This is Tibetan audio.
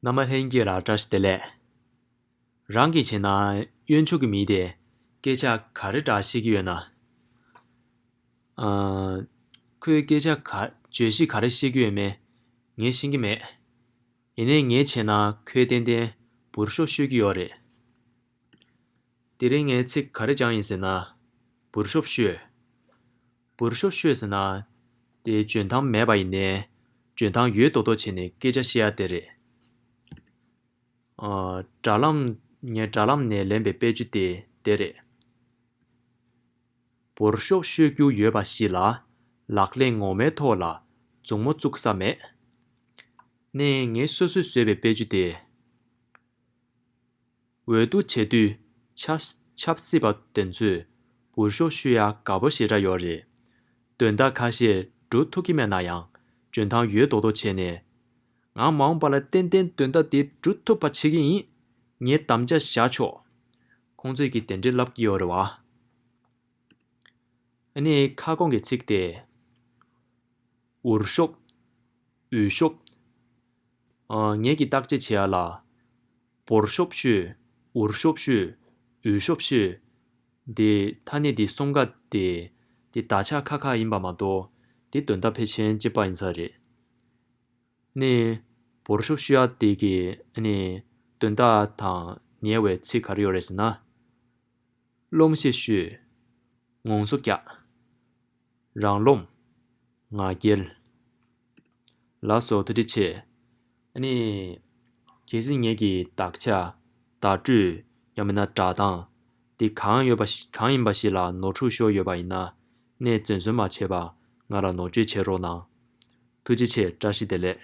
མནའ་མ་ལྷན་རྒྱས་ལ་བཀྲ་ཤིས་བདེ་ལེགས། རང་གིས་བྱས་ན་གཡོན་ཕྱོགས་ཀྱི་མི་དེས་སྐད་ཆ་ག་རེ་འདྲ་བཤད་ཀྱི་ཡོད་ན། ཁོས་སྐད་ཆ་ག་བརྗོད་གཞི་ག་རེ་བཤད་ཀྱི་ཡོད་མེད་ངས་ཤེས་ཀྱི་མེད། ཡིན་ནའི་ངས་བྱས་ན་ཁོས་ཏན་ཏན་འབུར་ཤོག་ཤོད་ཀྱི་ཡོད་རེད། དེ་རིང་ངས་ཚིག་ག་རེ་སྦྱངས་ཡིན་ཟེར་ན། འབུར་ཤོག་ཤོད། བུར་ཤོ་ཤོས་ཟེར་ན། དེ་འཇོན་ཐང་མེད་པ་ཡིན་ནས། འཇོན་ཐང་ཡོད་མདོག་མདོག་བྱས་ནས་སྐད་ཆ་བཤད་ཡ་དེ་རེད། དྲ་ལམ། ངས་དྲ་ལམ་ནས་ལེན་པའི་དཔེ་བཅུ་སྟེ་དེ་རེད། བུར་ཤོ་ཤོས་རྒྱུ་ཡོད་པ་ཞིག་ལ། ལག་གླེང་ངོ་མའི་ཐོག་ལ་མཛུབ་མོ་བཙུག་ས་མེད། ནས་ངས་སོ་སོས་བཟོས་པའི་དཔེ་བཅུ་དེ། འོས་བསྡུ་བྱེད་དུས་ཆབ་སྲིད་པ་དེ་ཚོས་འུར་ཤོག་ཤུ་ཡ་དགའ་པོ་ཞེ་དྲག་ཡོད་རེད། དོན་དག་ཁ་ཤས་འགྲོ་ཐུབ་ཀྱི་མེད་ན་ཡང་འཇོན་ཐང་ཡོད་མདོག་མདོག་བྱས་ནས། ང་མ་འོངས་པ་ལ་ཏན་ཏན་དོན་དག་དེ་འགྲུ་ཐུབ་པ་བྱེད་ཀྱི་ཡིན། ངས་དམ་བཅའ་བཞག་ཆོག། ཁོང་ཚོས་ཀྱིས་དེ་འདྲའི་ལབ་ཀྱི་ཡོད་རེད་བ། འོ་ནི་ཁ་སྐོང་གི་ཚིག་དེ། འུར་ཤོག། འུས་ཤོག། ངེད་ཀྱིས་བརྟག་དཔྱད་བྱེད་ཡ་ལ། བོར་ཤོབ་ཤོད། འུར་ཤོབ་ཤོད། འུད་ཤོབ་ཤོད། འདི་ཐ་སྙད་འདི་གསུམ་ཀ་སྟེ། འདི་བདག་ཆགས་ཁ་ཁ་ཡིན་པ་མ་གཏོགས་འདི་དོན་དག་ཕལ་ཆེན་གཅིག་པ་ཡིན་ས་རེད། ནི། བོར་ཤོབ་ཤོད་ཡ་དེ་གི་ནི་དོན་དག་དང་ཉེ་བའི་ཚིག་ག་རེ་ཡོད་རེད་ཟེར་ན། སློང་བཤད་ཤོད། ངོང་སོ་རྒྱག། རང་རློམ། ང་རྒྱལ། ལ་སོགས་ཐ་དད་ཆེ། ནི། གལ་སྲིད་ངེད་ཀྱི་དག་ཆ། བརྡ་སྤྲོད། ཡང་མིན་ན་སྒྲ་གདངས། འདི་གང་ཡོད་པ། གང་ཡིན་པ་ཞིག་ལ་ནོར་འཁྲུལ་ཤོར་ཡོད་པ་ཡིན་ན། གནས་བཙོན་བཟོད་མ་བྱས་པར་ང་ལ་ནོར་བཅོལ་བྱེད་རོགས་གནང། ཐུགས་རྗེ་ཆེ་བཀྲ་ཤིས་བདེ་ལེགས།